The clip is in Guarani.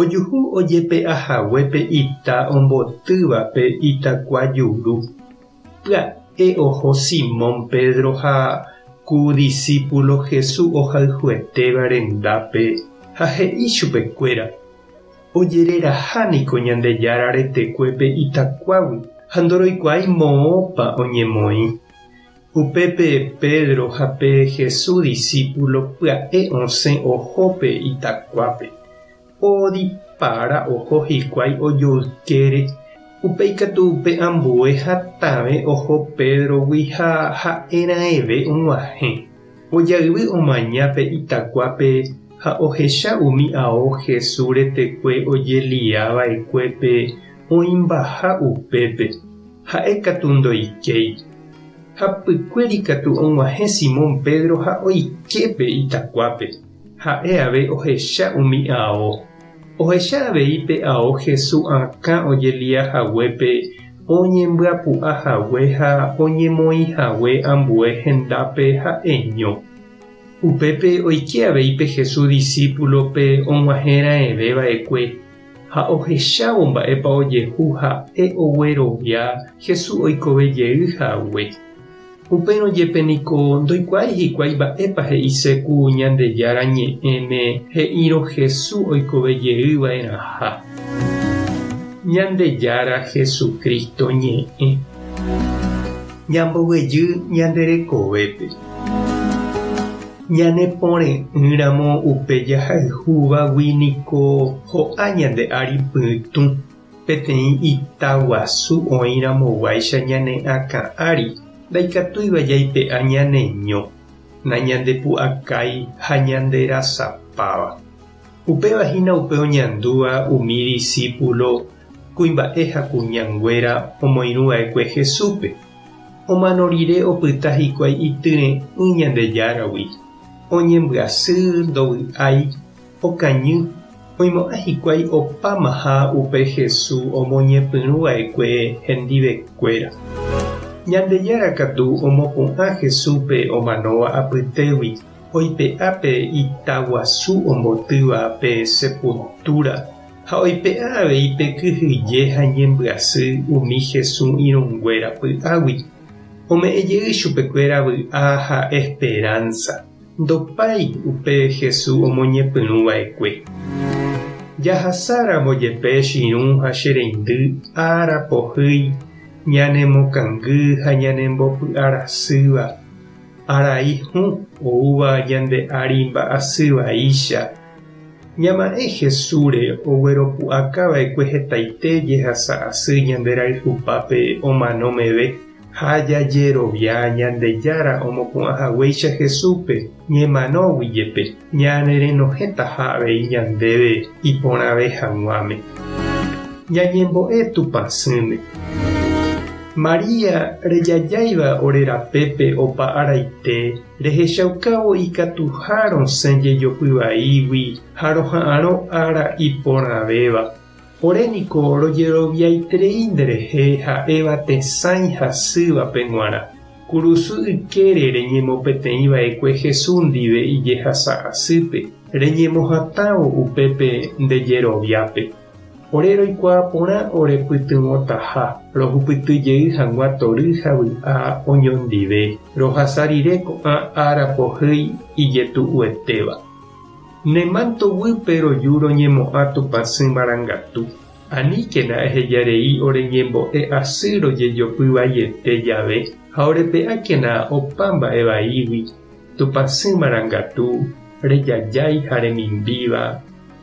Ojuhu ojepe'a hague pe ita ombotývape itakua juru. Pya'e oho Simón Pedro ha ku disípulo Jesús ohayhuetéva rendápe ha he'i chupekuéra, Ojereraha niko Ñandejára retekuépe itakuágui ha ndoroikuaái moõpa oñemoĩ. Upépe Pedro ha pe Jesús disípulo pya'e osẽ oho pe itakuápe. Oodipára oho hikuái ojoykére, upe ikatu upe ambue hatãve oho Pédrogui ha ha'e raẽve og̃uahẽ. Ojayvy omaña pe itakuápe ha ohecha umi ao Jesús retekue ojelia va'ekue pe oĩmbaha upépe. Ha'e katu ndoikéi. Ha pykue ikatu og̃uahẽ Simón Pedro ha oike pe itakuápe. Ha'e avei ohecha umi ao. Ohecha avei pe ao Hesu akã ojelia haguépe oñembyapu'a hague ha oñemoĩ hague ambue hendápe ha eño. Upépe oike avei pe Hesu disípulo pe og̃uahẽ raẽve va'ekue. Ha ohechávo mba'épa ojehu ha'e oguerovia Jesús oikove jey hague. Upérõ jepe niko ndoikuaái hikuái mba'épa he'ise ku Ñandejára Ñe'ẽme he'írõ Jesús oikove jey va'erãha. Ñandejára Jesucristo Ñe'ẽ. Ñamboguejy ñande rekovépe. Ñanepore'ỹramo upe jahayhúvagui niko ho'a ñande ári pytũ, peteĩ ita guasu oĩramoguáicha ñane akã ári, ndaikatúiva jaipe'a ñaneño, nañandepu'akái ha ñanderasapáva. Upéva hína upe oñandúva umi disípulo Kuimba'e ha kuñanguéra omoirũ va'ekue Jesúspe, omano rire opyta hikuái ityre'ỹ Ñandejáragui, oñembyasy, ndovy'ái, okañy, oimo'ã hikuái opámaha upe Jesús omoñepyrũ va'ekue hendivekuéra. Ñandejára katu omopu'ã Jesúspe omanóva apytégui oipe'a pe itaguasu ombotýva pe sepultúra, ha oipe'a avei pe kyhyje ha ñembyasy umi Hesu irũnguéra py'águi, ome'ẽ jey chupekuéra vy'a ha esperánsa, ndopái upe Hesu omoñepyrũ va'ekue. Jahasa ramo jepe chirũ ha che reindy ára pohýi ñanemokangy ha ñanembopy'arasýva, arai hũ oúva ñande ári mba'asy vaicha, Ñama'ẽ Jesúsre ogueropu'akava'ekue hetaite jehasa asy ñanderayhupápe omano meve ha jajerovia Ñandejára omopu'ãhaguéicha Jesúspe ñemanógui jepe, ñanerenohẽtaha avei ñandéve iporãve hag̃uáme. Ñañembo'e Tupã sỹme. María rejajáiva ore rapépe opa araite. Rehechaukávo ikatuha rosẽ jejopy vaígui ha roha'arõ ára iporãvéva. Ore niko rojeroviaiterei nderehe ha'éva tesãi hasývape g̃uarã. Kurusy ykére reñemopeteĩva'ekue Jesús ndive ijehasa asýpe, reñemohatãvo upépe nde jeroviápe. Ore roikuaa porã orepytyvõtaha, rohupyty jey hag̃ua tory ha vy'a oñondive, rohasa rire ko'ã ára pohýi ijetu'uetéva. Ne manto guýpe roju roñemo'ã tupãsy marangatu. Aníkena eheja rei ore ñembo'e asy rojejopy vaiete jave ha orepe'ákena opa mba'e vaígui, tupãsy marangatu, rejajái ha remimbíva.